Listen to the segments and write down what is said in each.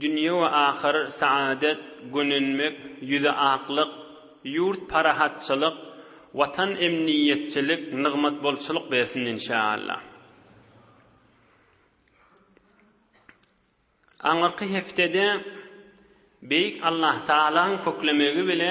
Dünýe we ahyr saadet, gönenmek, ýüzi aklyk, ýurt parahatçylyk, Watan emniýetçilik, nygmat bolçulyk bersin inşaallah. Aňyrky heftede Beýik Allahtagalaň köklemegi bile,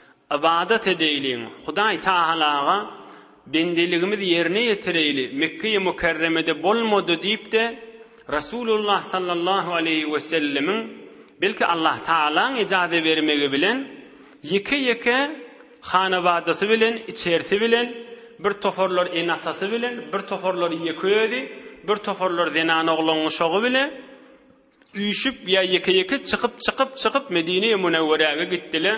Ybadat edeýliň, Hudaý Tagalaga bendeligimiz ýerine ýetireýli, Mekge-i Mükerremede bolmady diýip-de, Resulullah sallallahu aleýhi wesellemiň, belki Allah Tagalaň ejaze bermegi bilen, ýeke-ýeke hanabadasy bilen, içerisi bilen, bir toparlar ene-atasy bilen, bir toparlar ýeke özi, bir toparlar zenan-oglan guşagy bile, Üýşüp ýa ýeke-ýeke çykyp çykyp çykyp Medine-i Münewweräge gitdile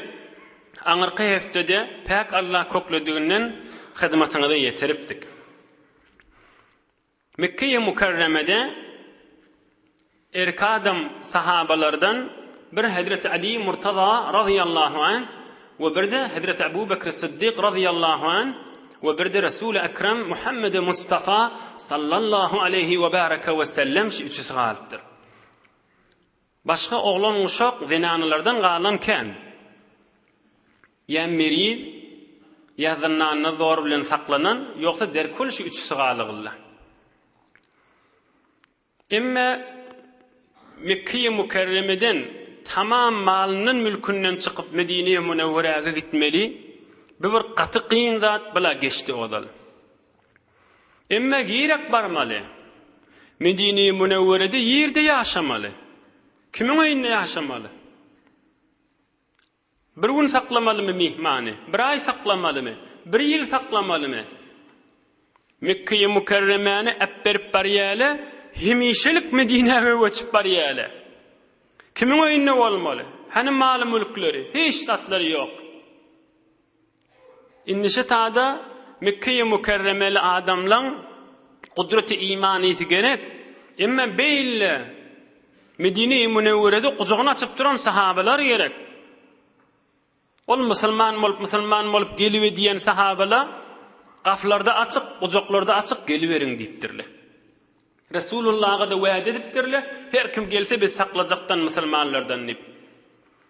aňyrky heftede Päk Allah köklediginden hyzmatyňyza ýetiripdik. Mekkeýi Mukarremede erkadam sahabalardan bir Hezreti Ali Murtaza razyýallahu anh We bir-de Hezreti Abu Bekri Syddyk razyýallahu an we bir-de Resuli Ekrem Muhammedi Mustafa sallallahu aleýhi we baraka we sellem şu üçüsi galypdyr. Başga oglan uşak zenanalardan galan kän. Ýa meriz, ýa zyndanda zor bilen saklanan, ýogsa derkul şu üçüsi galygylla. Emma Mekkeýi Mukerremeden tamam malyndan mülkünden çykyp Medineýi Munewweräge gitmeli bu bir gaty kyn zat bla geçdi ozal. Emma girek barmaly. Medineýi Munewwerede ýerde ýaşamaly. Kimiň öýünde ýaşamaly? Bir gün saklamalymy myhmany? Bir aý saklamalymy? Bir ýyl saklamalymy? Mekgeýi Mükerremäni äpberip barýaly, hemişelik Medinäge göçüp barýaly. Kimiň öýünde bolmaly? Hany maly-mülkleri? Hiç zatlary ýok. Indi şu tada Mekkeýi Mükerremeli adamlaň gudraty iman ýesi gerek. Emma beýle Medinei Münewwerede gujagyny açyp duran sahabalar gerek. Ol musulman bolup, musulman bolup gelibe diýen sahabala gaflarda açyk, gujaklarda açyk geliberiň diýipdirler. Resulullaha-da wa'de edipdirler, her kim gelse biz saklajakdan musulmanlardan diýip.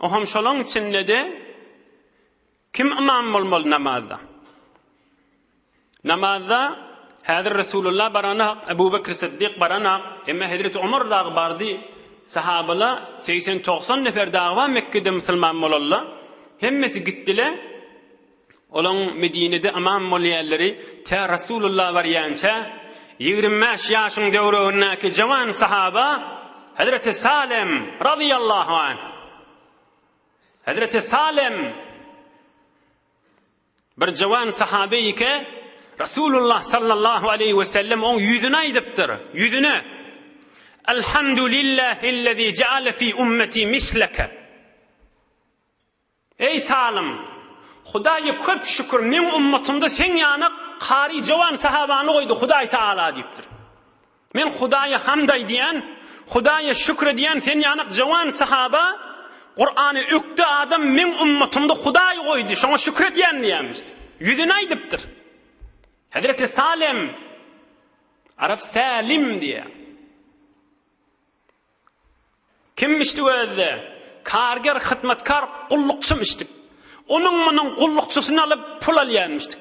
O hem şolaň içinde-de kim ymam bolmaly namazda? Namazda häzir Resulullah baranak, Ebu Bekr Siddik baranak, emma Hezreti Omar dagy bardy. Sahabala 80-90 nefer dagy bar Mekgede musulman bolalla. Hemmesi gitdile. Olaň Medinede ymam bolýanlary tä Resulullah barýança, ýigrimi bäş ýaşyň töweregindäki jawan sahaba Hezreti Salem, razyýallahu anh, Hezreti Salem, bir jawan sahabe ike, Resulullah sallallahu aleýhi we sellem oň ýüzüne aýdypdyr, ýüzüne, Elhamdulillahillezî jaale fî ummeti misleke. Eý Salym! Hudaýa köp şükür, meň ummatymda seň ýana kary jowan sahabany goýdy Hudaý Tagala diýipdir. Men Hudaýa hamd aýdýan, Hudaýa şükür edýän sen ýanak jowan sahaba Kurany ökde adam meň ummatymda Hudaý goýdy, şoňa şükür edýän diýýämiş. Ýüzüne aýdypdyr. Hezreti Salym, arap Sälim diýýär. Kim içdik özde? Karger, hyzmatkar, gullukçym içdik. Onuň-munuň gullukçysyny alyp, pul alýarmyşdyk.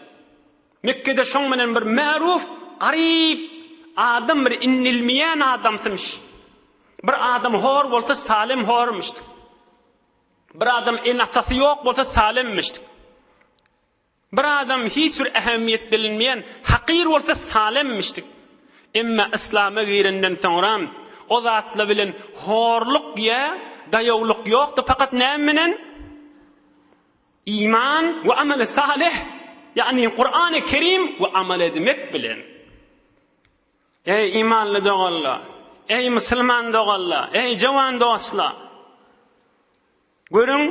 Mekgede şoň bilen bir märuf, garyp, adam bir inilmeýän adamsymyş. Bir adam hor bolsa, Salem hormyşdyk. Bir adam ene-atasy ýok bolsa, Salemmişdik. Bir adam hiç bir ähmiýet bilinmeýän hakyr bolsa salemmişdik. Emma yslama girenden soňra o zatlar bilen horluk ýa daýawlyk ýokdy fakat näme bilen? Iman we ameli salih ýagny Kurany Kerim we amal edmek bilen. Eý imanly doganlar, eý musulman doganlar, eý jowan dostlar! Görüň,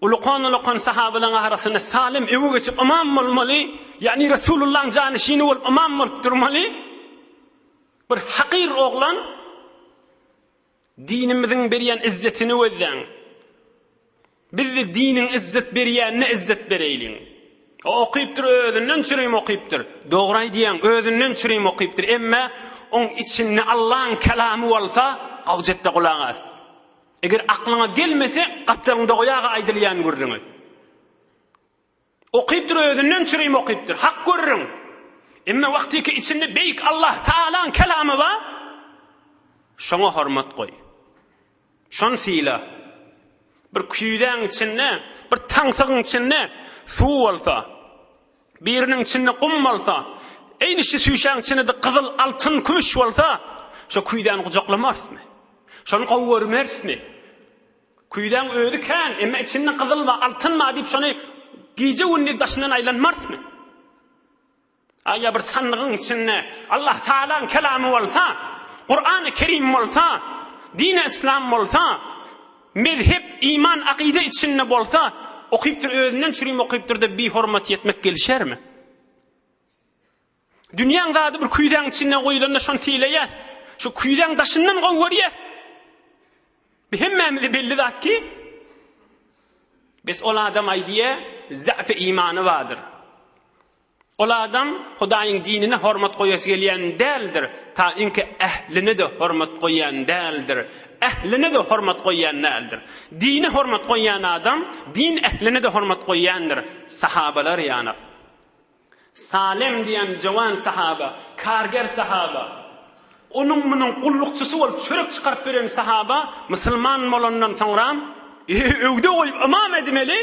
ulukan-ulukan sahabalaryň arasynda Salym öňe geçip ymam bolmaly, ýagny Resulullahyň janyşyny bolup ymam bolup durmaly. Bir hakyr oglan, dinimiziň berýän izzetini gözläň. Biz-de diniň izzet berýänine izzet bereýliň. O okypdyr, özünden çürim okypdyr. Dogry aýdýaň, özünden çürim okypdyr, emma oň içinde Allaň kalamy bolsa, gowjetde gulak as. Eger aklyňa gelmese, gapdalyňda goýaga aýdylýan gürrüňi. Okypdyr özünden çürim okypdyr. Hak gürrüň. Emma wagtyky içinde beýik Allah Taalaň kelamy bar. Şoňa hormat goý. Şony syla. Bir küýzäň içinde, bir taňsygyň içinde suw bolsa, Biriniň içinde gum bolsa, eýnişi süýşäň içinede gyzyl, altyn, kümüş bolsa, şo küýzäni gujaklamarysmy? Şony gowy görmerismi? Küýzäň özi kän, emma içinde gyzyl bar, altyn bar diýip şony gije-gündiz daşyndan aýlanmarysmy? A ýa bir sandygyň içinde Allah Tagalaň kelamy bolsa, Kurany Kerim bolsa, dini Islam bolsa, Mezhep, iman, akyda içinde bolsa, okypdyr, özünden çürim okypdyr-da bihormat etmek gelişermi? Dünýäň zady bir küýzäň içinde goýulanda şony sylaýas. Şu küýzäň daşyndan gowy görýäs. Bu hemmämize belli zat ki, bes ol adam aýdýa, zähfi imany bardyr. Ol adam Hudaýyň dinine hormat goýasy gelýän däldir, ta iňki ähline-de hormat goýýan däldir, ähline-de hormat goýýan däldir. Dine hormat goýýan adam, din ähline-de hormat goýýandyr. Sahabalar ýanak. Salem diýen jowan sahaba, karger sahaba, onuň-munuň gullukçysy bolup çörek çykaryp beren sahaba musulman bolandan soňra öwde goýup ymam edmeli,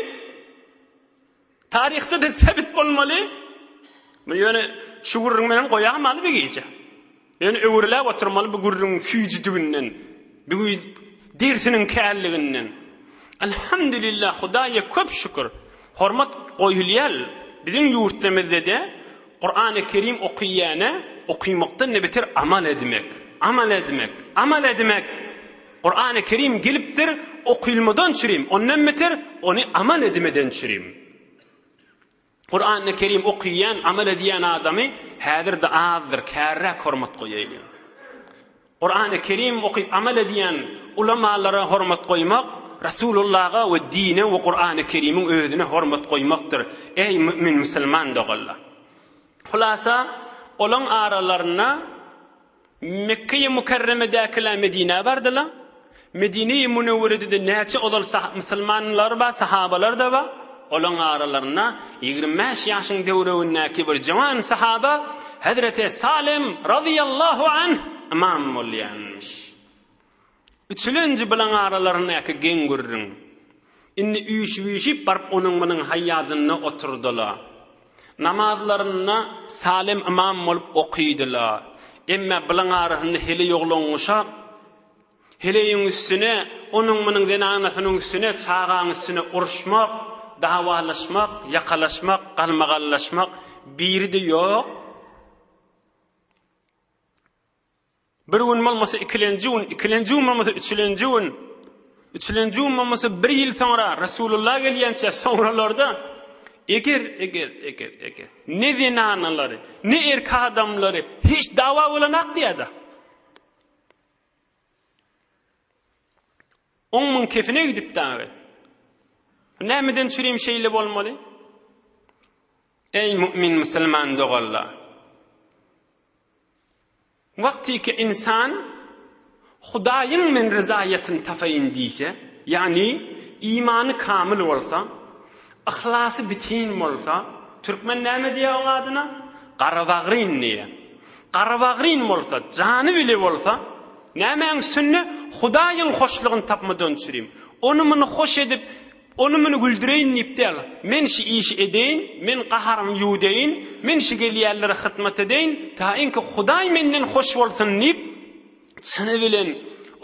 Taryhda-da sebit bolmaly. Muny ýöne şu gürrüň bilen goýamaly bu gije. Ýöne öwrüläp oturmaly bu gürrüňiň süýjüdiginden, bu güýz dersiniň källiginden. Alhamdulillah, Hudaýa köp şükür, hormat goýulýar. Biziň ýurtdamyzda-da Kurany Kerim okyýana okymakdan-da beter amal edmek, amal edmek, amal edmek Kurany Kerim gelipdir, okylmadan çürim, ondan beter, ony amal edimeden çürim. Kurany Kerim okuyan, amal ediyen adamy häzir de azdyr, kärräk hormat goýaýyň. Kurany Kerim okuyup amal ediyen ulamalara hormat goýmak Rasulullaha we dine we Kurany Kerimiň özüne hormat goýmakdyr. Eý mümin musulman doganlar. Hulasa olaň aralarynda Mekge-i Mükerremedäkiler Medinä bardylar. Medine-i Münewwerede-de näçe ozal musulmanlar bar, sahabalar-da bar. Olaryň aralarynda ýigrimi bäş ýaşyň töweregindäki bir jöwan sahaba hezreti Salym razyýallahu anh ymam bolýarmyş. Üçülenji bilen aralaryndaky geň gürrüň indi üýşüp-üýşüp baryp onuň-munuň haýýadynda oturdyla. Namazlaryny Salem ymam bolup okydyla. Emme bilen arasynda heleý oglan guşak, heleýiň üstüne, onuň-munuň zenanasynyň üstüne, çagaň üstüne uruşmak, dawalaşmak, ýakalaşmak, galmagallaşmak biri-de ýok. Bir gün bolmasa ikilenji gün, ikilenji gün bolmasa üçülenji gün, üçülenji gün bolmasa bir ýyl soňra Resulullah gelýänçä soňralarda eger eger eger eger ne zenanalary, ne erki adamlary hiç dawa bolanak diýädi. On müň kefine gidip dagy. Nämeden çürim şeýle bolmaly? Ey mümin musulman dogallar. Wagtyky ynsan Hudaýyň men ryzaýatyny tapaýyn diýse, ýagny imany kamyl bolsa, yhlasy bitin bolsa, türkmen näme diýýär oň adyna? Garabagrin diýýär. Garabagrin bolsa, jany bile bolsa, nämäň üstünde? Hudaýyň hoşlugyny tapmadan çürim. Ony-muny hoş edip, Ony-muny güldüreýin diýip däl, men şu işi edeýin, men gaharymy ýuwudeýin, men şu gelýänlere hyzmat edeýin, taýynky Hudaý menden hoş bolsun diýip, çyny bilen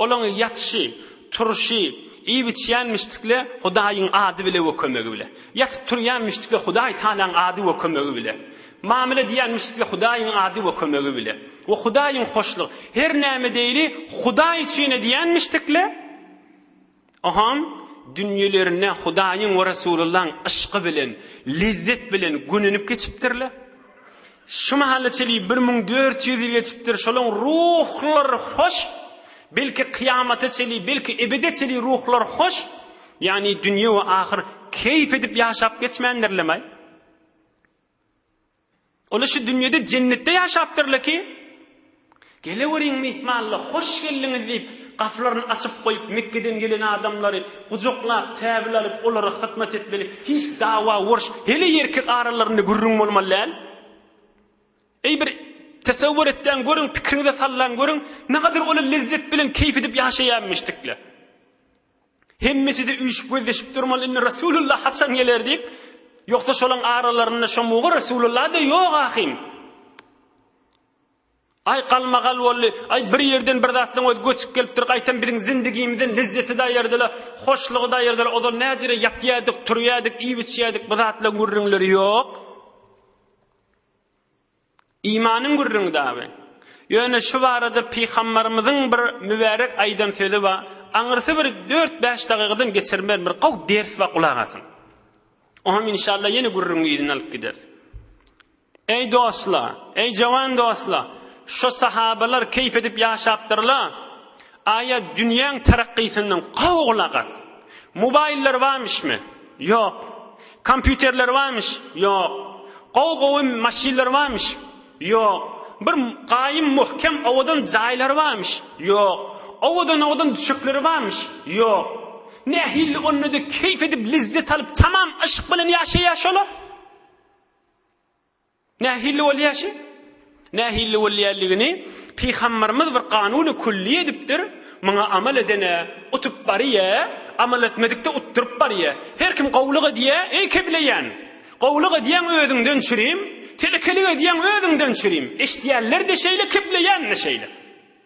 olaň ýatyşy, turşy, iýip-içýänmişdikle Hudaýyň ady bile we kömegi bile. Ýatyp-turýanmişdikle Hudaý Tagalaň ady we kömegi bile. Mamyl edýänmişdikle Hudaýyň ady we kömegi bile. We Hudaýyň hoşlugy. Her näme edeýli Hudaý üçin edýänmişdikle, Ohaň dünýelerine Hudaýyň we Resulullahyň yşky bilen, lezzet bilen gönenip geçipdirler. Şu mahala çenli bir müň dört ýüz ýyl geçipdir. Şolaň ruhlary hoş. Belki kyýamata çenli, belki ebede çenli ruhlar hoş. Ýagny dünýe we ahyr keýp edip ýaşap geçmändirlemai? Olar şu dünýede jennetde ýaşapdyrlar ki, Geleweriň myhmanlar, hoş geldiňiz diýip, gapylaryny açyp goýup, Mekgeden gelen adamlary gujaklap, täbil alyp, olara hyzmat etmeli, hiç dawa, urş, heleý erkek aralarynda gürrüň bolmaly däl. Eý, bir tesewwur etdäň görüň, pikiriňize sallaň görüň, nähadar olar lezzet bilen keýp edip ýaşaýarmyş dikler. Hemmesi-de üýşüp gözleşip durmaly, indi Resulullah haçan geler diýip, ýogsa şolaň aralarynda şo mugy Resulullah-da ýok ahym. Aý galmagal boldy, aý bir ýerden bir zatlaň özi göçüp gelipdir, gaýtam biziň zindigimizden lezzeti-de aýyrdyla, hoşlugy-da aýyrdyla, ozal näjere ýatýardyk, turýardyk, iýip-içýärdik, bu zatlaň gürrüňleri ýok. Imanyň gürrüňi dagy. Ýöne şu barada pygambarymyzyň bir mübärek aýdan sözi bar, aňyrsy bir dört-bäş dagykadan geçirmerin bir gowy ders bar gulak asyň. Oňam inşallah ýene gürrüňi yzyna alyp gideris. Eý dostlar, eý jowan dostlar, şo sahabalar keýp edip ýaşapdyrlar. Aýa dünýäň tarakkysyndan gowy gulak as. Mobaýllar barmyşmy? Ýok. Kompýuterler barmyş? Ýok. Gowy gowy maşynlar barmyş? Ýok. Bir gaýym möhkem owadan jaýlary barmyş? Ýok. Owadan owadan düşekleri barmyş? Ýok. Nähili onda-da keýp edip, lezzet alyp, tamam yşk bilen ýaşaýar şolar? Nähili bolýaşy? Nähili bolýanligini Pygambarymyz bir kanuny külli edipdir, Muňa amal edene utup barýa, amal etmedikde utduryp barýa. Her kim gowulyk edýä, eý kebleýän! Gowulyk edýäň özüňden çürim, telekelik edýäň özüňden çürim. Eşidýänler-de şeýle, kebleýän-de şeýle.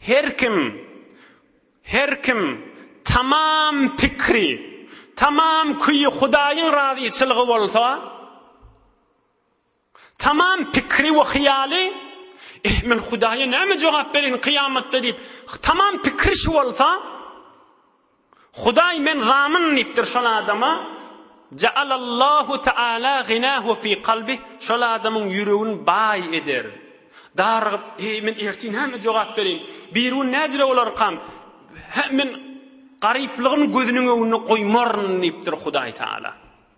Her kim, her kim tamam pikri, tamam küýi Hudaýyň razyçylygy bolsa, tamam pikri we hyýaly, Eh, men Hudaýa näme jogap bereýin kyýamatda diýip, tamam pikri şu bolsa, Hudaý men zamun diýipdir şol adama, Ja'alallahu ta'ala ginahu fi kalbih, şol adamyň ýüregin baý eder. Darygyp, heý men ertir näme jogap bereýin, birigün näjire bolarkam, hä men garyplygymy gözüniň öňünde goýmaryn diýipdir Hudaý Taala.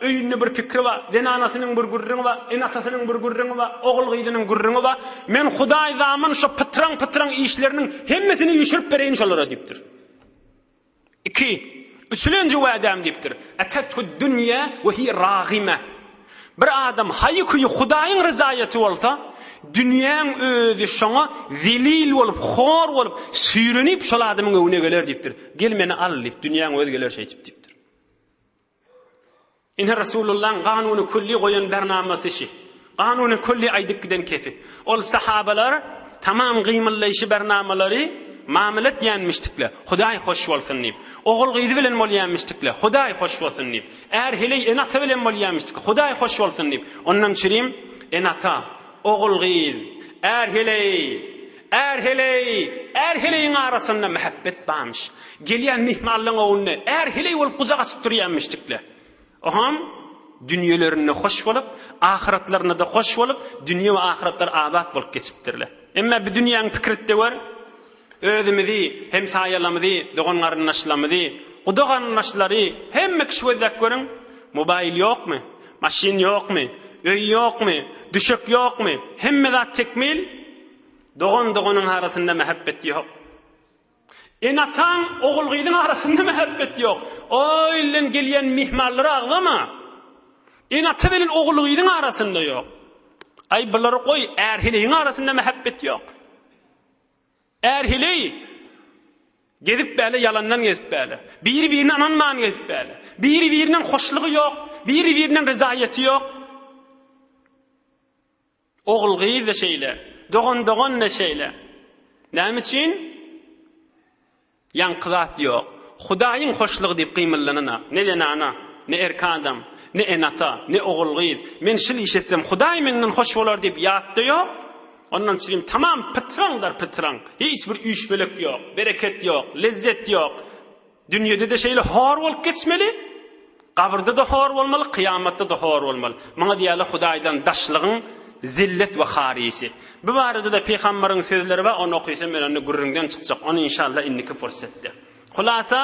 Öýünde bir pikri bar. Zenanasynyň bir gürrüňi bar, ene-atasynyň bir gürrüňi bar, ogul-gyzynyň gürrüňi bar. Men Hudaý zaman şo pytraň-pytraň işleriniň hemmesini üýşürip bereýin şolara diýipdir. Iki, üçülenji wegem diýipdir. Etethud-dünýe we hiýe ragime. Bir adam haýy-küýi Hudaýyň ryzaýaty bolsa, dünýäň özi şoňa zelil bolup, hor bolup, süýrenip şol adamyň öňüne geler diýipdir. Gel meni al diýip, dünýäň özi geler şeýdip diýipdir. Ine Resulullahyň Kanuny Külli goýan bernamasy şi. Kanuny Külli aýdyp giden kefi. Ol sahabalar tamam gymyllaýşy bernamalary mamyl etýänmişdikle, Hudaý hoş bolsun diýip. Ogul gyz bilen bolýanmişdikle, Hudaý hoş bolsun diýip. Är heleý ene-ata bilen bolýanmişdikle, Hudaý hoş bolsun diýip. Ondan çirim ene-ata, ogul gyz, är heleý, Är heleý, är heleýiň arasynda mähäbbet barmyş. Gelýän myhmanlaryň öňünde är heleý bolup gujak açyp durýarmyş jikler. Oňam dünýelerinde hoş bolup, ahyratlarynda-da hoş bolup, dünýe we ahyratlary abat bolup geçipdirler. Emma bu dünýäň pikirtde gör, özümizi, hemsaýalarymyzy, dogan-garyndaşlarymyzy, guda-garyndaşlary, hemme kişi gözläp görüň, mobaýl ýokmy, maşyn ýokmy, öý ýokmy, düşek ýokmy, hemme zat tekmil, Dogan-doganyň arasynda mähebbet ýok. Ene-ataň, ogul-gyzyň arasynda mähebbet ýok. O ilden gelýän myhmanlara agzama. Ene-ata bilen ogul-gyzyň arasynda ýok. Aý, bulary goý, är-heleýiň arasynda mähebbet ýok. Är-heleý gezip bäle ýalandan gezip bäle. Biri-birine ynanman gezip bäle. Biri-birinden hoşlugy ýok, biri-birinden ryzaýaty ýok. Ogul-gyz-da şeýle, dogan-dogan-da şeýle. Näme üçin? Ýaňky zat ýok. Hudaýyň hoşlugy diýip gymyllananak, ne zenana, ne erki adam, ne ene-ata, ne ogul-gyz, Men şil iş etsem, Hudaý menden hoş bolar diýip ýat-da ýok. Ondan çirim tamam pytraňdar pytraň. Hiç bir üýşmeleik ýok, bereket ýok, lezzet ýok. Dünýede-de şeýle hor bolup geçmeli, gabyrda-da hor bolmaly, kyýamatda-da hor bolmaly. Muňa diýýärler Hudaýdan daşlygyň zillet we haryýsy. Bu barada-da Pygamberiň sözleri bar, ony okysam men onda gürrüňden çykjak, ony inşallah indiki pursatda. Hulasa,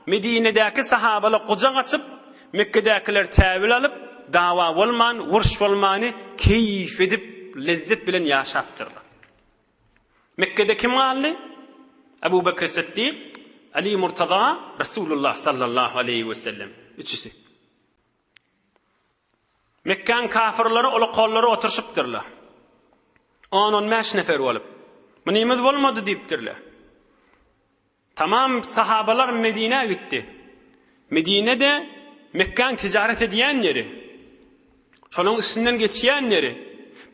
Medinedäki sahabalar gujak açyp, Mekgedäkiler täwil alyp, dawa bolman, uruş bolmany keýp edip, lezzet bilen ýaşapdyrlar. Mekgede kim galdy? Abu Bekr Siddik, Ali Murtaza, Resulullah sallallahu aleýhi we sellem, üçüsi. Mekkäň kafirleri ola kollary oturşypdyrlar. 10-15 nefer bolup. Mynymyz bolmady diýipdirler. Tamam sahabalar Medinä gitdi. Medine-de Mekgäň tijaret edýän ýeri. Şonuň üstünden geçýän ýeri.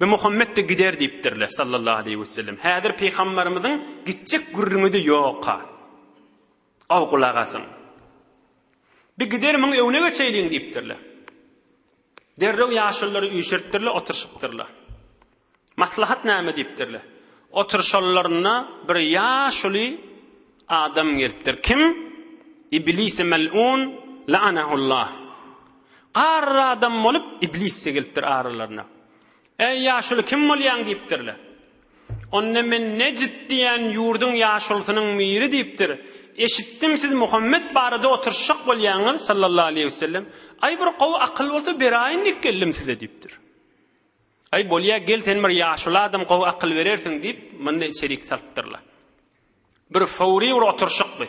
Bi Muhammet-de gider diýipdirler, sallallahu aleýhi we sellem. Häzir pygambarymyzyň gitjek gürrüňi-de ýok-a. Gowy gulak asyň. Bi gider muň öňüne geçeýliň diýipdirler. Derrew ýaşululary üýşüripdirler, oturyşypdyrlar. Maslahat näme diýipdirler. Oturyşanlarynda bir ýaşuly adam gelipdir. Kim? Iblisi mel'un la'anahullah. Garry adam bolup, iblis-de gelipdir aralaryna. Äý, ýaşuly kim bolýaň? diýipdirler. Onda men Nejd diýen ýurduň ýaşulusynyň biri diýipdir. Eşitdim, siz Muhammet barada oturyşjak bolýaňyz, sallallahu aleýhi wesellem. Aý, bir gowy akyl bolsa beraýyn diýip geldim size, diýipdir. Aý, bolýa, gel, sen bir ýaşuly adam, gowy akyl berersiň, diýip, muny içerik salypdyrlar. Bir fowry bir oturyşykdy.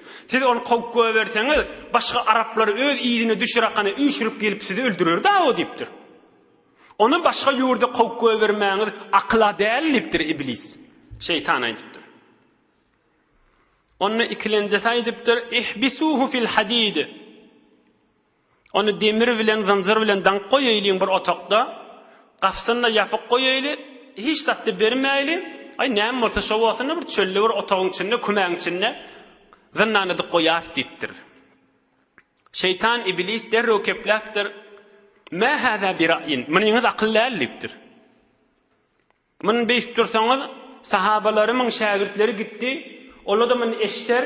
Siz ony kowup goýberseňiz, başga araplar öz yzyna düşürakana üýşürip gelip sizi öldürerdi-aw diýipdir. Ony başga ýurda kowup goýbermäňiz akyla däl diýipdir Iblis. Şeýtan aýdypdyr. Onda ikilenjesi aýdypdyr, Ihbisuhu fil hadid. Ony demir bilen, zynjyr bilen daňyp goýaýliň bir otagda, gapysyny-da ýapyk goýaýly, hiç zat-da bermäýli, aý, näme bolsa şo bolsun-da, bir çölde bir otagyň içinde, kümäň içinde zyndan edip goýas, diýipdir. Şeýtan, iblis derrew kepläpdir, Mä hâzâ biraýin, munyňyz akyl däl, diýipdir. Muny beýtip dursaňyz, sahabalarymyň şägirtleri gitdi, ola-da muny eşder,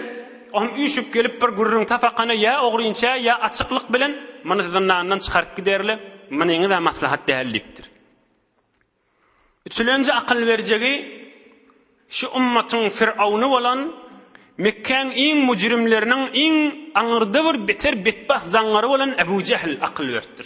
o hem üýşüp gelip bir gürrüň tapakana ýa ogrynça, ýa açyklyk bilen muny zyndandan çykaryp giderler, munyňyz-ä maslahat däl diýipdir. Üçülenji akyl berjegi, şu ümmatyň firauny bolan, Mekgäň iň müjrimleriniň iň aňyrda bir beter betbagt zaňňary bolan Ebu Jehl akyl beripdir.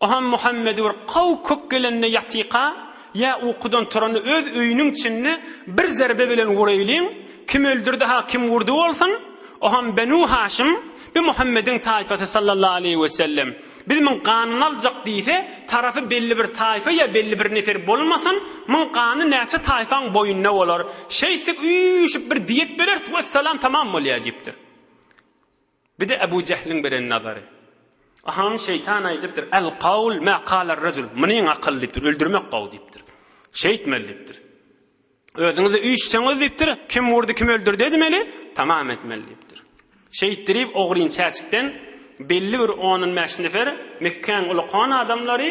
Ohan Muhammed bir kaw kök gelende ýatyka ýa ukudan turanda öz öýüniň içinde bir zerbe bilen wuraýlyň, kim öldürdi-ha kim wurdy bolsun, ohan Benu Haşym, bi Muhammediň taýfasy sallallahu aleýhi we sellem, biz muň ganyny aljak diýse, tarapy belli bir taýfa ýa belli bir nefer bolmasyn, muň gany näçe taýfaň boýnuna bolar, şeýtsek üýşüp bir diýet bereris, wessalam tamam bolýar diýipdir. Bir-de Ebu Jehliň beren nazary. Ahaň şeýtan aýdypdyr, Al-kawl ma kalar-rajul, Munyň akyl diýipdir, öldürmek gowy diýipdir. Şeýtmeli diýipdir. Özüňizi üýşseňiz diýipdir, kim urdy, kim öldürdi edmeli, tamam etmeli diýipdir. Şeýtdirip ogryn çäçikden belli bir on-on bäş nefer Mekgäň uly kon adamlary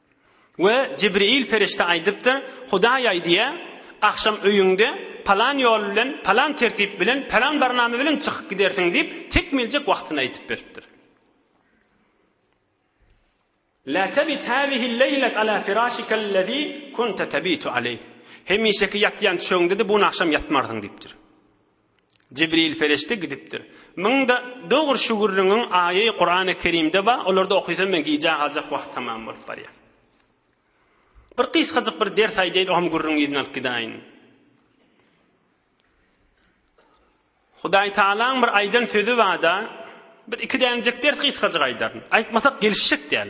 We Jibril perişde aýdypdyr, Hudaý aýdýar, Agşam öýüňde palan ýol bilen, palan tertip bilen, palan barnama bilen çykyp gidersiň diýip, tekmiljek wagtyny aýdyp beripdir. La tabit hazihi leýlet ala firâşikellezî kunte tabitu aleyh. Hemişeki ýatýan düşegiňde-de bu gün agşam ýatmarsyň diýipdir. Jibril ferişde gidipdir. Munda dogry şu gürrüňiň aýy Kurany Kerimde bar, olarda okysam men gijä galjak wagt tamam bolup barýa. Bir gysgajyk bir ders aýdaýyn ogam gürrüň yzyny alyp gidaýyn. Hudaý Taalaň bir aýdan sözi barda, bir iki dänejek ders gysgajyk aýdaryn. Aýtmasak gelişjek däl.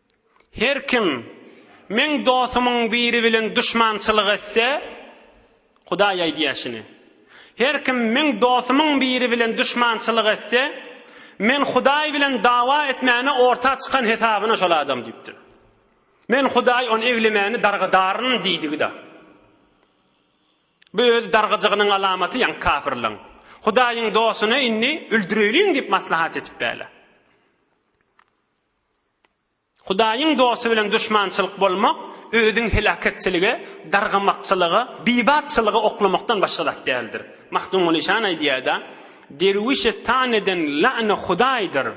Her kim Meň dostumyň biri bilen duşmançylyk etse, Hudaý aýdýaşyny, Her kim Meň dostumyň biri bilen duşmançylyk etse, Men Hudaý bilen dawa etmäne orta çykan hesabyna şol adam diýipdir. Men Hudaý ony eglemäni dargadaryn diýdigi-da. Bu öz dargyjygynyň alamaty ýaňy kafirleň. Hudaýyň dostuny indi öldüreýliň diýip maslahat etip bäle. Hudaýyň dosty bilen duşmançylyk bolmak özüň heläketçilige, dargamakçylyga, bibatçylyga oklamakdan başga zat däldir. Mahdumguly şany aýdýar-da, Derwişe tan eden lany Hudaýdyr.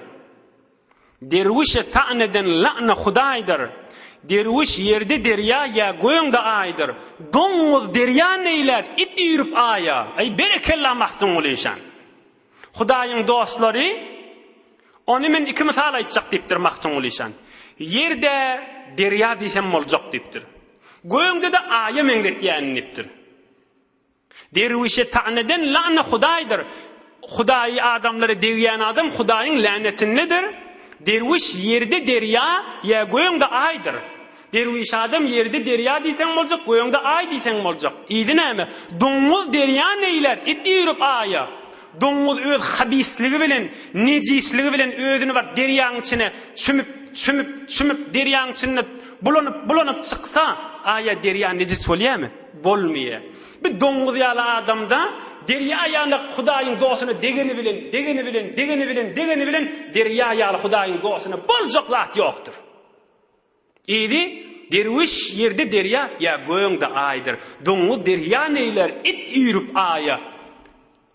Derwişe tan eden lany Hudaýdyr. Derwiş ýerde derýa ýa göňde aýdyr. Doňňuz derýa neýlär, it üýrüp aýa. Aý, berekella Mahdumguly şan! Hudaýyň dostlary Ony men iki mysal aýtjak diýipdir Magtymguly şan. Ýerde derýa diýsem boljak diýipdir. Gögde-de aýa meňzetýärin diýipdir. Derwişe tan eden lana Hudaýdyr. Hudaýy adamlara degýän adam Hudaýyň länetindedir. Derwiş ýerde derýa ýa gögde aýdyr. Derwiş adam ýeride derýa diýseň boljak, gögde aý diýseň boljak. Yzy näme? Doňňuz derýa neýlär, it üýrüp aýa. Doňňuz öz habisligi bilen, nejisligi bilen özüni bar derýaň içine çümüp, çümüp, çümüp, derýaň içinde bulanyp, bulanyp çyksa, aýa derýa nejis bolýamy? Bolmaýa. Bir doňňuz ýaly adamda derýa ýaly Hudaýyň dostuna degeni bilen, degeni bilen, degeni bilen, degeni bilen derýa ýaly Hudaýyň dostuna boljak zat ýokdur. Yzy, Derwiş, ýerde derýa, ýa gögde Aýdyr. Doňuz derýa neýler, it üýrüp Aýa.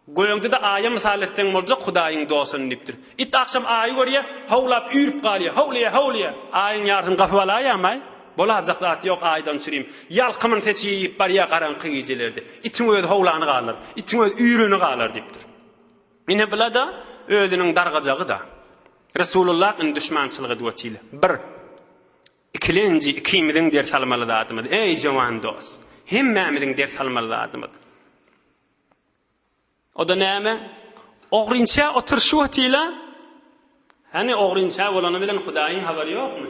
Gögde-de Aýa mysal etseň boljak Hudaýyň dostun diýipdir. It agşam Aýy görýär, howlap üýrüp galýar, Howlýa, howlýa! Aýyň ýarysyny gapyp alaýam-aý! Bolarjak zat ýok Aýdan çürim. Ýalkymyny seçi iýip barýar garaňky gijelerde. Itiň özi howlany galar. Itiň özi üýreni galar diýipdir. Ine bula-da özüniň dargajagy-da. Resulullah indi duşmançylyk edip otile. Bir. Ikilenji ikimiziň ders almaly zadymyz. Eý jowan dos. Hemmämiziň ders almaly zadymyz. O-da näme? Ogrynça oturşyp otile. Hany ogrynça bolany bilen Hudaýyň habary ýokmy?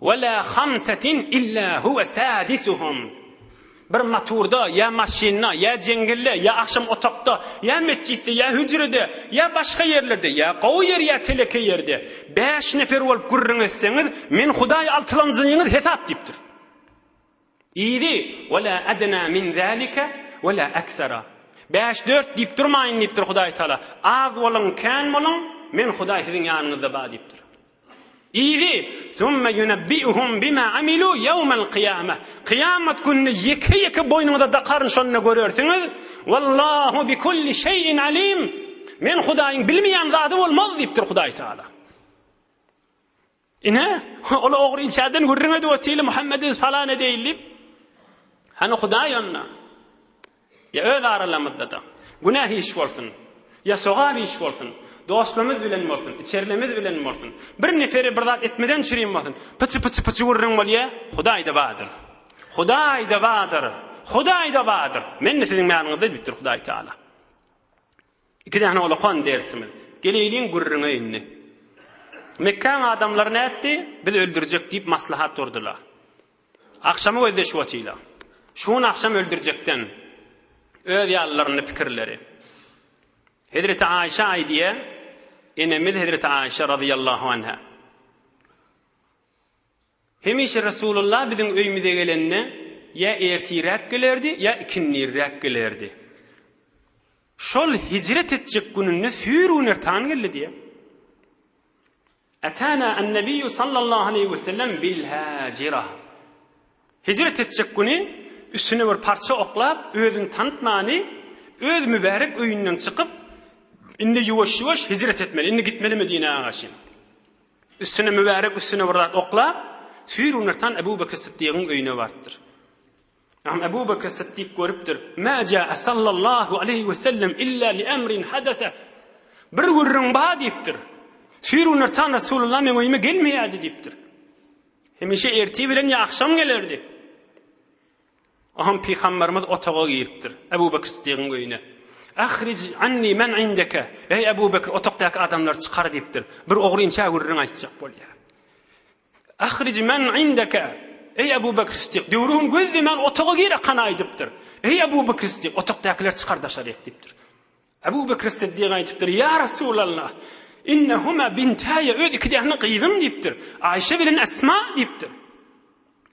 Wala hamsatin illa huwa sadisuhum. Bir motorda, ýa maşynda, ýa jeňňelde, ýa agşam otagda, ýa metjitde, ýa hüjrede, ýa başga ýerlerde, ýa gowy ýer, ýa teleke ýerde, bäş nefer bolup gürrüň etseňiz, men Hudaý altylanjyňyz hesap diýipdir. Yzy, Ve la edna min zalike ve la aksara. Bäş, dört diýip durmaýyn diýipdir Hudaý Taala. Az boluň, kän boluň, Men Hudaý siziň ýanyňyzda bar diýipdir. Yzy, Summe yunebbi'uhum bima amilu yawmal qiyamah. Kyýamat gününi ýeke-ýeke boýnuňyza dakaryn şonda görersiňiz. Wallahu bi kulli şeýin alim. Men Hudaýyň bilmeýän zady bolmaz diýipdir Hudaý Taala. Ine, ol ogry içerden gürrüň edip otyrly Muhammedi falan edeýin diýip. Hany Hudaý onda? Ýa öz aralamyzda-da. Günäh iş bolsun. Ýa sogap iş bolsun. Dostlarymyz bilen bolsun. Içerlimiz bilen bolsun. Bir neferi bir zat etmeden çürim bolsun. Pyçy-pyçy-pyçy gürrüň bolýa. Hudaý-da bardyr. Hudaý-da bardyr. Hudaý-da bardyr. Men-de siziň manyňyzda diýipdir Hudaý Taala. Iki däne ulakan dersimiz. Geleýliň gürrüňe indi. Mekgäň adamlary nätdi? Biz öldürjek diýip maslahat durdylar. Agşamy gözleşip otylar. Şu gün agşam öldürjekden öz ýalylaryny pikirleri. Hezreti Aýşe aýdýa, enemiz Hezreti Aýşe radiyallahu anha. Hemişe Resulullah biziň öýümize gelende ýa ertiräk gelerdi, ýa ikindirräk gelerdi. Şol hijret etjek gününde süýr gün ertan geldi diýýär. Atana en-Nebiyyu sallallahu aleýhi we sellem bil-Hajira. Hijret etjek güni üstüne bir parça oklap, özüni tanytmany, öz mübärek öýünden çykyp, indi ýuwaş-ýuwaş hijret etmeli, indi gitmeli Medinä garşy. Üstüne mübärek üstüne bir zat oklap, süýrünirtan Ebu Bekr Siddigiň öýüne barypdyr. Am Ebu Bekr Siddik görüpdir. Mä ja'a sallallahu aleyhi ve sellem illa li emrin hadese. Bir gürrüň ba diýipdir. Süýrünirtan Resulullah meň öýüme gelmeýärdi diýipdir. Hemişe erti bilen ýa akşam gelerdi. Aham pygamberimiz otaga giripdir, Ebu Bekir Siddigiň öýüne. Ahrij anni men indeke, eý Ebu Bekir otakdaky adamlary çykar diýipdir. Bir ogry inçä gürrüň aýtjak bolýar. Ahrij men indeke, eý Ebu Bekir Siddik, döwrüň gözlemän otaga gir akana aýdypdyr. Eý Ebu Bekir Siddik, otakdakylar çykar daşaryk diýipdir. Abu Bekr Siddiq aýdypdyr, Ýa Resulallah! Innehuma bintäýe, öz iki däne gyzym diýipdir. Aýşe bilen Esma diýipdir.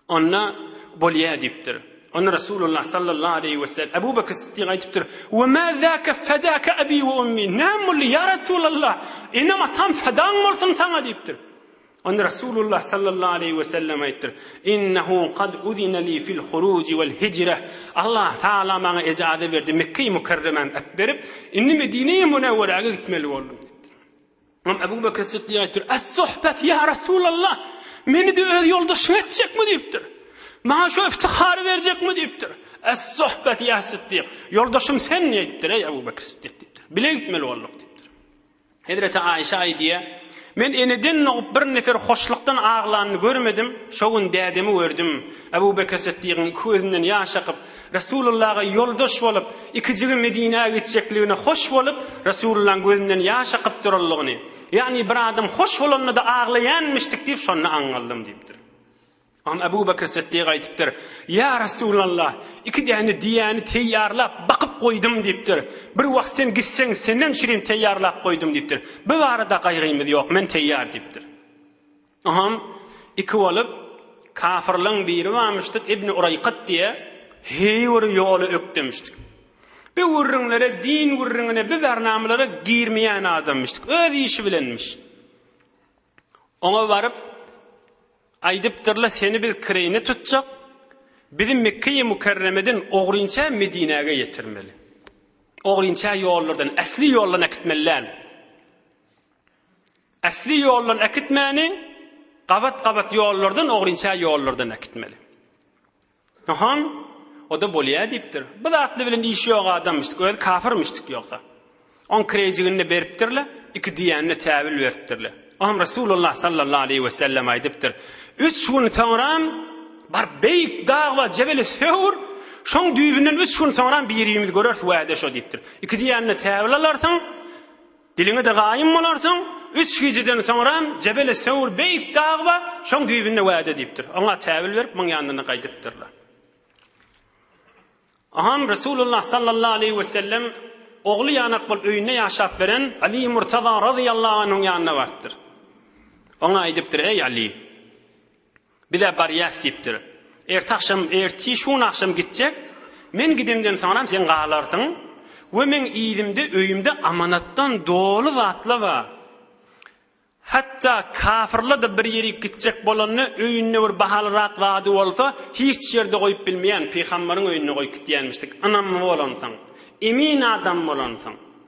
Onda, Bolýa diýipdir. Onda Resulullah sallallahu aleýhi we sellem, Abu Bekr Siddiq aýdypdyr, We ma zaka fadaka abi we ummi, Näme boldy, ýa Resulallah! Enem-atam fadaň bolsun saňa diýipdir. Onda Resulullah sallallahu aleýhi we sellem aýtdyr, Innehu kad uzine li fil huruji wal hijre, Allah Taala maňa ejaze berdi, Mekge-i Mükerremäni äp berip, indi Medine-i Münewwerege gitmeli boldum diýipdir. Imam Ebu Bekr Siddigy aýtdyr, Es suhbet ýa Resulallah, meni-de öz ýoldaşyň etjekmi diýipdir. Maňa şu iftihary berjekmi diýipdir. Es suhbet ýa Siddik, ýoldaşym sen diýipdir, eý Ebu Bekr Siddik diýipdir. Bile gitmeli bolduk diýipdir. Hezreti Aişe aýdýar, Men eneden dogup bir nefer hoşlukdan aglanyny görmedim, şo gün dädemi gördüm, Ebu Bekr Sytdygyň iki gözünden ýaş akyp, Resulullaga ýoldaş bolup, ikijigi Medinä gitjekligine hoş bolup, Resulullaň gözünden ýaş akyp duranlygyny, ýagny bir adam hoş bolanda-da aglaýanmyşdyk diýip şonda aňňaldym diýipdir. An Abu Bakr Siddiq aýdypdyr, Ýa Resulallah, iki däne diýäni teýýarlap, bakyp goýdum diýipdir. Bir wagt sen gitseň, senden üçinem teýýarlap goýdum diýipdir. Bu barada gaýgymyz ýok, men teýýar diýipdir. Oňam iki bolup, kafyrlaň biri barmyşdyk, Ibni Uraýkat diýe, heý bir ýoly ökdemişdik. Bu gürrüňlere, din gürrüňine, bu bernamalara girmeýän adammyşdyk. Öz işi bilenmiş. Oňa baryp, aýdypdyr-la, Seni biz kireýine tutjak, bizi Mekgeýi Mükerremeden ogrynça Medinäge ýetirmeli. Ogrynça ýollardan, äsli ýoldan äkitmeli däl. Äsli ýoldan äkitmäni, gabat-gabat ýollardan, ogrynça ýollardan äkitmeli. Ahaň, o-da bolýa diýipdir. Bu zatly bilen işi ýok adamyşdyk, özi kapyrmyşdyk ýogsa. Oň kireýjigini-de beripdir-le, iki düýäni-de täbil beripdir-le. Oňam Resulullah sallallahu aleýhi we sellem aýdypdyr, Üç gün soňram, baryp beýik dag bar, Jebeli Sewr, şoň düýbünden üç gün soňram bir-birimizi göreris, wäde şo diýipdir. Iki düýäni-de täbil alarsyň. Diliňe-de gaýym bolarsyň, üç gijeden soňram Jebele Sewr beýik dag bar, şoň düýbünde wada diýipdir. Oňa täwil berip, muň ýanyna gaýdypdyrlar. Oňam Resulullah sallallahu aleýhi we sellem ogly ýanak bolup öýünde ýaşap beren Aly Murtaza razyýallahu anhuň ýanyna barypdyr. Oňa aýdypdyr, Eý Aly! Biz-ä barýas, diýipdir. Erti agşam, erti şu gün agşam gitjek. Men gidemden soňram sen galarsyň we meň yzymda öýümde amanatdan doly zatlar bar. Hatda kafyrlar-da bir ýerik gitjek bolanda öýünde bir bahalyrak zady bolsa, hiç ýerde goýup bilmeýän, pygamberiň öýünde goýup gidýänmişdik, ynamly bolansoň, emin adam bolansoň.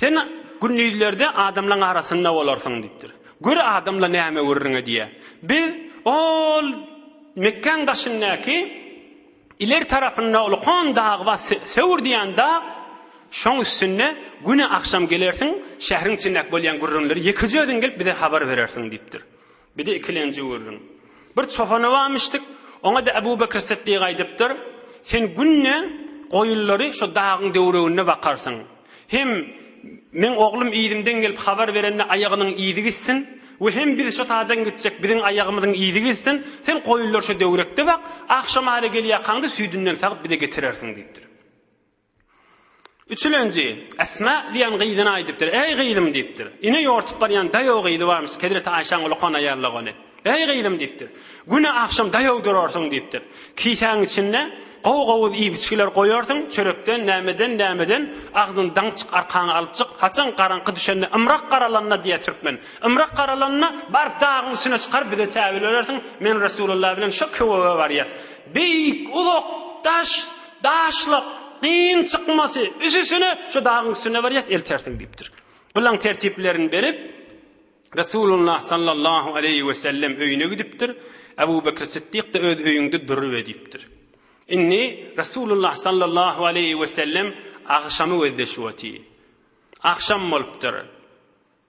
Sen gündizlerde adamlaň arasynda bolarsyň diýipdir. Gör adamla näme gürrüňe diýýär. Biz ol Mekgäň daşyndaky ileri tarapynda ulkan dag bar, Sewr diýýän dag, şoň üstünde güni agşam gelersiň, şähriň içindäki bolýan gürrüňleri ýekeje özüň gelip bize habar berersiň diýipdir. Bir-de ikilenji gördüm. Bir çopana barmyşdyk. Oňa-da Ebu Bekr Sytdyk aýdypdyr, Sen günde goýunlary şu dagyň döwreginde bakarsyň. Hem meň oglum yzymdan gelip habar berende aýagynyň yzy gitsin we hem biz şu taýdan gitjek, biziň aýagymyzyň yzy gitsin. Sen goýunlary şu döwrekde bak, agşamara gelýärkaňda süýdünden sagyp bize getirersiň diýipdir. Üçülenji, Esma diýen gyzyna aýdypdyr, Eý, gyzym! diýipdir. Ine, ýortup barýan daýaw gyzy barmyş, hezreti Aýşäň uly honaýarlygy ony. Eý, gyzym! diýipdir. Güne agşam daýaw durarsyň, diýipdir. Kisäň içinde gowy-gowuz iýip-içgiler goýarsyň, çörekden, nämeden, nämeden, agzyny daň çyk, arkaňy alyp çyk, haçan garaňky düşende, ymrak garalanda diýýär türkmen, ymrak garalanda baryp dagyň üstüne çykar, bize täbelörersiň, men Resulullah bilen şo köwege barýas. Beýik, uzak daş, Daşlyk, gyn çykmasy, üsüsine şu dagyň üstüne barýas, eltersiň diýipdir. Gylaň tertiplerini berip, Resulullah sallallahu aleýhi wesellem öýüne gidipdir. Abu Bekr Siddik-de öz öýüňde duruber diýipdir. Indi Resulullah sallallahu aleýhi wesellem agşamy gözleşip otyr. Agşam bolupdyr.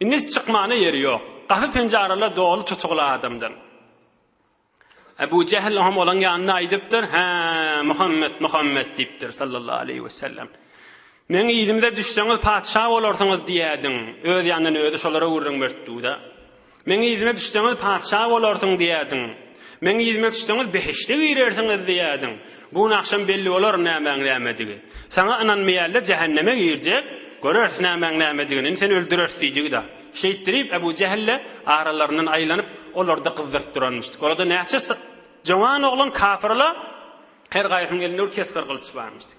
Indi çykmana ýeri ýok. Gapy-penjareler doly tutugly adamdan. Ebu Jehl hem olaň ýanynda aýdypdyr, Hä, Muhammet, Muhammet diýipdir, sallallahu aleýhi we sellem. Meň yzymda düşseňiz patyşa bolarsyňyz diýädiň. Öz ýanyndan özi şolara gürrüň beripdi-de. Meň yzyma düşseňiz patyşa bolarsyň diýädiň. Meň yzyma düşseňiz behişde girersiňiz diýerdiň. Bu gün agşam belli bolar nämäň nämedigi. Saňa ynanmaýarlar jähenneme girjek, göreris nämäň nämedigini, indi seni öldüreris diýdigi-da. Şeýtdirip Ebu Jähille aralaryndan aýlanyp, olary-da gyzdyryp duranmyşdyk. Olarda näçe joňan oglan kafyrla her gaýsynyň elinde bir kesgir gylyç barmyşdyk.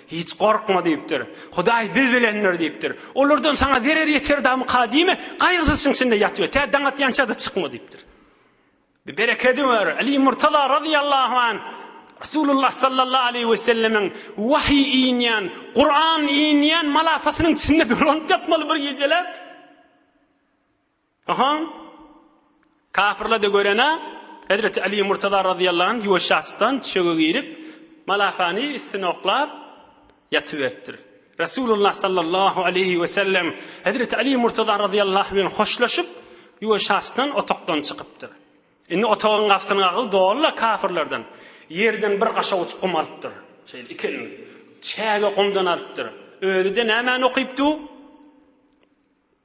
Hiç gorkma diýipdir. Hudaý biz bilendir diýipdir. Olardan saňa zerer ýeterdamyka diýme, gaýgysyz şyň içinde ýat we tä daň atýança-da çykma diýipdir. Bir berekedi bar, Aly Murtaza razyýallahu anh Resulullah sallallahu aleýhi we sellemiň wahyý inýän, Kuran inýän malafasynyň içinde dolanyp ýatmaly bir gijeläp. Ohoň, kafyrlar-da görene, hezreti Aly Murtaza razyýallahu anh ýuwaşja asdan düşege girip, malakany üstüne oklap, ýatyberipdir. Resulullah sallallahu aleýhi we sellem hezreti Aly Murtaza razyýallahu anh bilen hoşlaşyp, ýuwaşja asdan otagdan çykypdyr. Indi otagyň gapysynyň agyzy doly-la kafyrlardan. Ýerden bir gaşawuç gum alypdyr. Şeýle iki elini çäge gumdan alypdyr. Özi-de nämäni okypdy bu?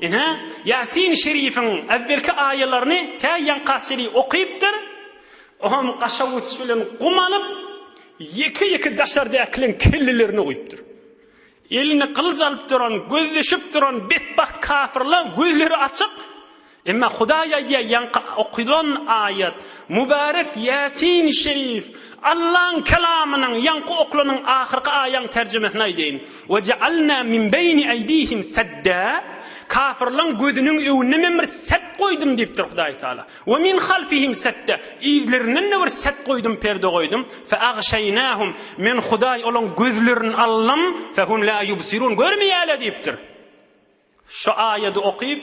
Ine, Ýasin şerifiň äwwelki aýalaryny tä ýaňka çenli okypdyr. Oňam gaşawuç bilen gum alyp, ýeke-ýeke daşardakylaryň kellelerine guýupdyr. Eline gylyç alyp duran, gözleşip duran betbagt kafirler gözleri açyk. Emma Hudaý aýdýar, ýaňky okylan aýat, mübärek Ýasin şerif, Allaň kelamynyň ýaňky oklanyň ahyrky aýaň terjimesini aýdaýyn. We ja'alna min beýni eýdihim sedda, kafirlaň gözüniň öňünde Men bir set goýdum diýipdir Hudaý Tagala. We min halfihim sedda, yzlarinden-de bir set goýdum, perde goýdum. Feagşaýnahum, Men Hudaý olaň gözlerini aldym, fehum la ýubsirun, görmeýärler diýipdir. Şu aýady okyp,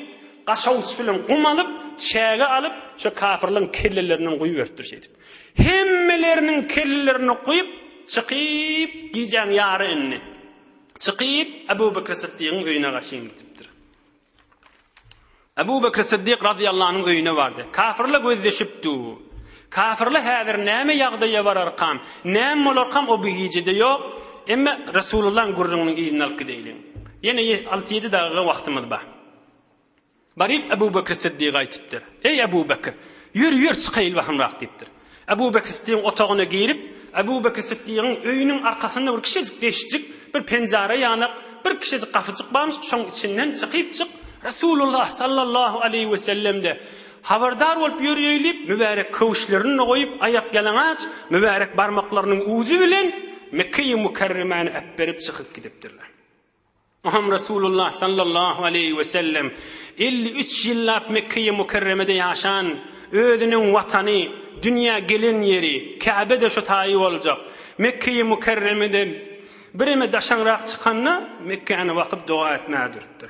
gaşawçy bilen gum alyp, çäge alyp, şo kafyrlaryň kellelerinden guýuberipdir şeýdip. Hemmeleriniň kellelerini guýup, çykyp, gijäň ýary indi. Çykyp, Abu Bekr Siddigiň öýüne garşyn gidipdir. Abu Bekr Siddik radiyallahu anyň öýüne bardy. Kafyrla gözleşipdi. Kafirler häzir näme ýagdaýa bararkam, näme bolarkam o bu gijede ýok. Emma Resulullahyň gürrüňiniň yzyny alyp gideýliň. Ýene alty-ýedi dagyga wagtymyz bar. Baryp Ebu Bekr Siddiga aýtypdyr. Eý Ebu Bekr, ýör, ýör çykaýyl bahymrak diýipdir. Ebu Bekr Siddigiň otagyna girip, Ebu Bekr Siddigiň öýüniň arkasynda bir kiçijik deşjik, bir penjara ýanak, bir kiçijik gapyjyk barmyş, şoň içinden çykyp çyk, Resulullah sallallahu aleýhi we sellem-de Habardar bolup ýörüýeý diýip, mübärek köwüşlerini-de goýup, aýakýalaňaç, mübärek barmaklarynyň ujy bilen Mekge-i Mükerremäni äpberip çykyp gidipdirler. Muhammet Resulullah sallallahu aleýhi we sellem elli üç ýyllap Mekge-i Mükerremede ýaşan, özüniň watany, dünýä gelen ýeri, Käbe-de şo taýy boljak, Mekge-i Mükerremeden bireme daşaňrak çykanda, Mekgäni bakyp doga etmäge durupdyr.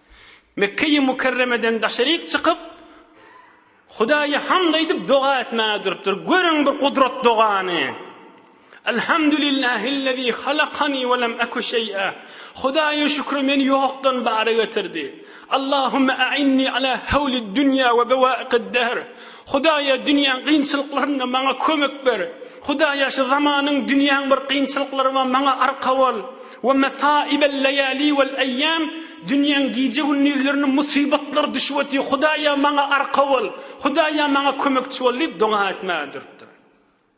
Mekge-i Mükerremeden daşaryk çykyp, Hudaýa hamd aýdyp doga etmäge durupdyr. Görüň bir gudrat dogany! Elhamdulillahillezî halakani we lem eku şeý'a. Hudaýa şükür, meni ýokdan bara getirdi. Allahumme a'inni ala hawlid dünýä we bewaikid dehr. Hudaýa dünýäň gynçylyklarynda maňa kömek ber. Hudaýa şu zamanyň, dünýäň bir gynçylyklary bar, maňa arka bol. Ve mesaibel leyali vel eyyam, Dünýäň gije-gündizlerine musybatlar düşüp otyr, Hudaýa maňa arka bol, Hudaýa maňa kömekçi bol diýip doga etmäge durupdyr.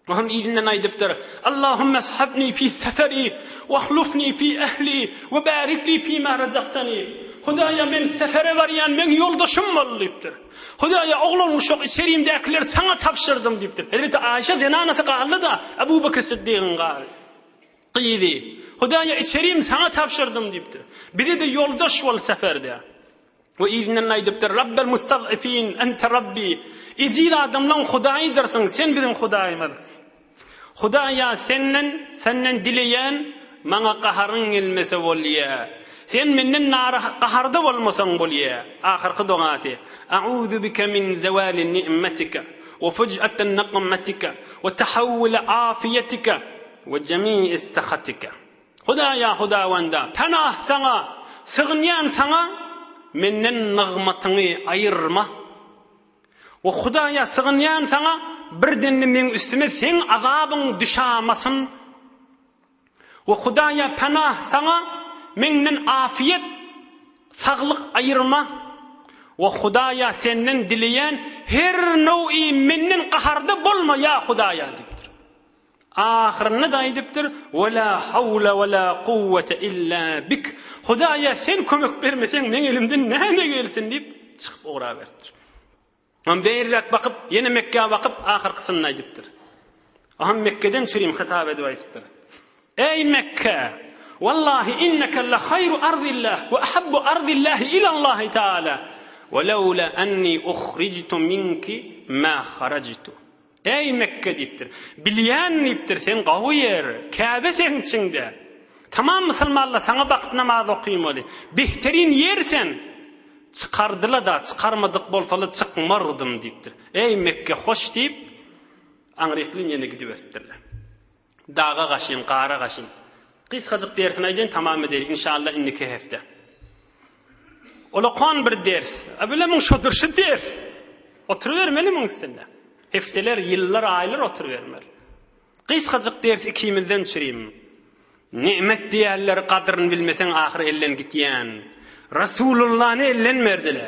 O hem yzyndan aýdypdyr, Allahümme eshibni fi seferi, ve ahlufni fi ehli, ve barik li fima rezaktani, Hudaýa men sefere barýan, meň ýoldaşym bol diýipdir. Hudaýa oglan-uşak, içerimdäkileri saňa tabşyrdym diýipdir. Hezreti Aişe zenanasy galdy-da, Ebu Bekr Syddygyň galy. Gyzy, Hudaýa içerim saňa tabşyrdym diýipdir. Bize-de ýoldaş bol seferde. We yzyndan aýdypdyr, Rabbel mustad'ifin, ente Rabbi, Ejiz adamlaň Hudaýydyrsyň, sen biziň Hudaýymyz. Hudaýa senden, senden dileýän, maňa gaharyň gelmese bolýa. Sen menden narah, gaharda bolmasaň bolýa. Ahyrky dogasy, A'uzu bike min zewali ni'metike, we fuj'ate niqmetike, we tahawwule afiýetike. We jemii sahatika. Hudaýa hudawanda, penah Saňa, sygynýan Saňa, menden nygmatyňy aýyrma. We Hudaýa sygynýan Saňa, birden-de meň üstüme Seň azabyň düşamasyn. We Hudaýa penah Saňa, menden afiýet, saglyk aýyrma. We Hudaýa Senden dileýän her nowi menden gaharda bolma, ýa Hudaýa! diýipdir. Ahyrynda-da aýdypdyr, We la hawla we la kuwwete illa bik, Hudaýa sen kömek bermeseň, meň elimden näme gelsin diýip, çykyp ugraberipdir. Ondan beýläk bakyp, ýene Mekgä bakyp, ahyrkysyny-da aýdypdyr. O hem Mekgeden çürim hytap edip aýdypdyr. Eý Mekge! Wallahi inneke la haýru arzillah we ahabbu arzillahi ilallahi taala, we lawla anni uhrijtu minki ma harajtu. Äý, Mekge, diýipdir. Bilýän, diýipdir, sen gawy ýer, Käbe seň içiňde. Tamam musulmanlar saňa bakyp namaz okamaly. Behterin ýer sen. Çykardyla-da, çykarmadyk bolsaly çykmardym, diýipdir. Äý, Mekge, hoş, diýip, aňryklyn ýene gidiberipdirler. Daga gaşyn, gara gaşyn. Gysgajyk dersini aýdaýyn tamam edeýin inşallah indiki hepde. Ola kon bir ders. A bile muň şodur şu ders. Oturybermeli muň üstünde. Hepdeler, ýyllar, aýlar oturybermeli. Gysgajyk ders ikimizden çürim. Nimet diýerler gadyryn bilmeseň ahyry elden gitýän. Rasulullany elden berdile.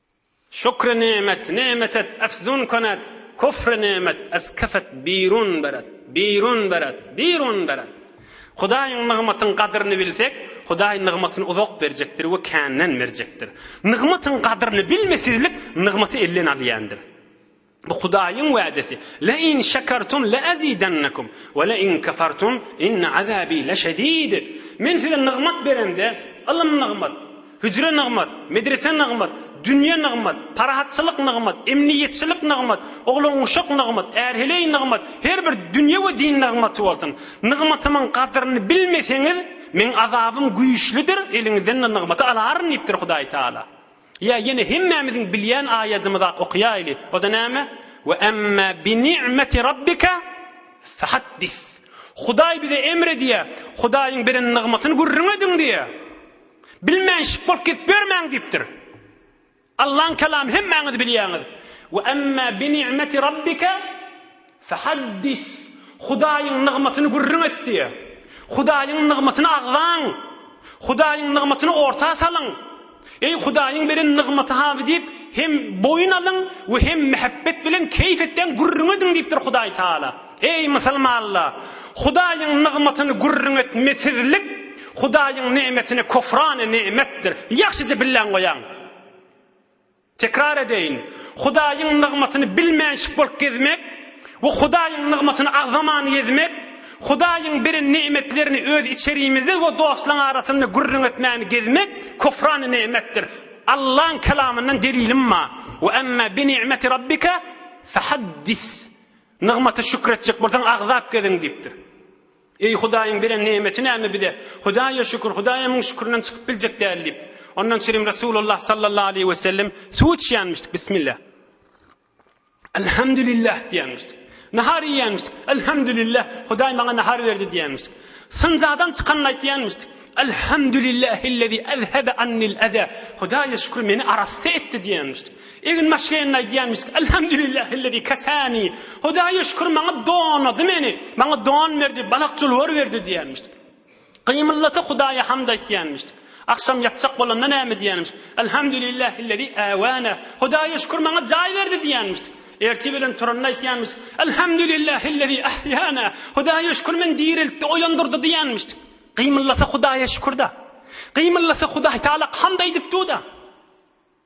Şükri nemet, nemet et, efzun konet, küfri nemet, eskef et, birun beret, birun beret, birun beret. Hudaýyň nygmatyň gadyryny bilsek, Hudaý nygmatyny uzak berjekdir we känden berjekdir. Nygmatyň gadyryny bilmesizlik nygmaty elden alýandyr. Bu Hudaýyň wädesi. Le in şekertum le ezidennekum we le in kefertum inne azabi leşedid. Men size nygmat beremde, ylym nygmat, hüjre nygmat, medrese nygmat, dünýe nygmat, parahatçylyk nygmat, emniýetçilik nygmat, oglan-uşak nygmat, är-heleý nygmat, her bir dünýe we din nygmaty bolsun. Nygmatymyň gadyryny bilmeseňiz, Meň azabym güýçlüdir, eliňizden-de nygmaty alaryn diýipdir Hudaý Taala. Ýa ýene hemmämiziň bilýän aýadymyzy okaýaýly. O-da näme? Ve emme bi ni'meti rabbika fehaddis. Hudaý bize emr edýär, Hudaýyň beren nygmatyny gürrüň ediň diýýär. Bilmänşik bolup gezip ýörmäň diýipdir. Allaň kelamy hemmäňiz bilýäňiz. Ve emme bi ni'meti rabbika Fehaddis, Hudaýyň nygmatyny gürrüň et diýýär. Hudaýyň nygmatyny agzaň! Hudaýyň nygmatyny orta salyň! Eý, Hudaýyň beren nygmaty hamy diýip, hem boýun alyň we hem mähebbet bilen keýp etden gürrüň ediň diýipdir Hudaý Tagala. Eý, musulmanlar! Hudaýyň nygmatyny gürrüň etmesizlik Hudaýyň nemetine küfrana nemetdir. Ýagşyja billäň goýaň! Tekrar edeýin, Hudaýyň nygmatyny bilmänşik bolup gezmek we Hudaýyň nygmatyny agzaman gezmek, Hudaýyň beren ne'metlerini öz içerimizde we dostlaň arasynda gürrüň etmän gezmek kufrany ne'metdir. Allaň Kelamyndan delilim ma, Ve emme bi ni'meti Rabbike fehaddis. Nygmata şükür etjek bolsaň agzap gezin diýipdir. Eý, Hudaýyň beren nemeti näme bize? Hudaýa şükür, Hudaýa müň şükürden çykyp biljek däl diýip, ondan çirim Resulullah sallallahu aleýhi we sellem suw içýänmişdik, Bismillah. Elhamdülillah diýýänmişdik. Nahar iýýänmişdik, Elhamdülillah, Hudaý maňa nahar berdi diýýänmişdik. Syncadan çykanyny aýtýanmişdik. Elhamdülillahillezî ezhebe annil eze. Hudaýa şükür, meni arassa etdi diýýänmişdik. Egin maşgenda aýdýarmyş, Elhamdülillahillezî kesânî, Hudaýa şükür, maňa donady meni, maňa don berdi, balak-julbar berdi diýýärmiş. Gymyldasa Hudaýa hamd aýtýarmyş. Agşam ýatjak bolanda näme diýýärmiş, Elhamdülillahillezî äwänâ, Hudaýa şükür, maňa jaý berdi diýýärmiş. Ertir bilen turanda aýtýarmyş, Elhamdülillahillezî ahyýânâ, Hudaýa şükür, meni direltdi, oýandyrdy diýýärmiş. Gymyldasa Hudaýa şükür-dä. Gymyldasa Hudaýtagala hamd aýdyp dur-da.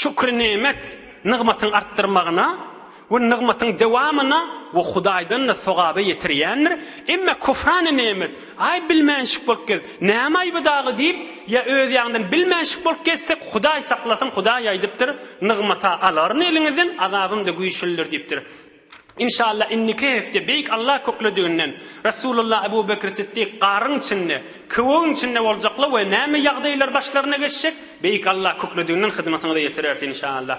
Şükri nemet, nygmatyň artdyrmagyna we nygmatyň dewamyna we Hudaýdan-da sogaba ýetirýändir, emma küfrany nemet, aý bilmänşik bolup gez, näme aýby dagy diýip, ýa öz ýaňdan bilmänşik bolup gezsek, Hudaý saklasyn, Hudaý aýdypdyr, Nygmat-a alaryn eliňizden, azabym-da güýçlidir diýipdir. Inşallah indiki hepde Beýik Allah köklediginden Resulullah Ebu Bekr Siddik garyň içinde, köwegiň içinde boljaklar we näme ýagdaýlar başlaryna geçjek Beýik Allah köklediginden hyzmatyňyza ýetireris inşallah.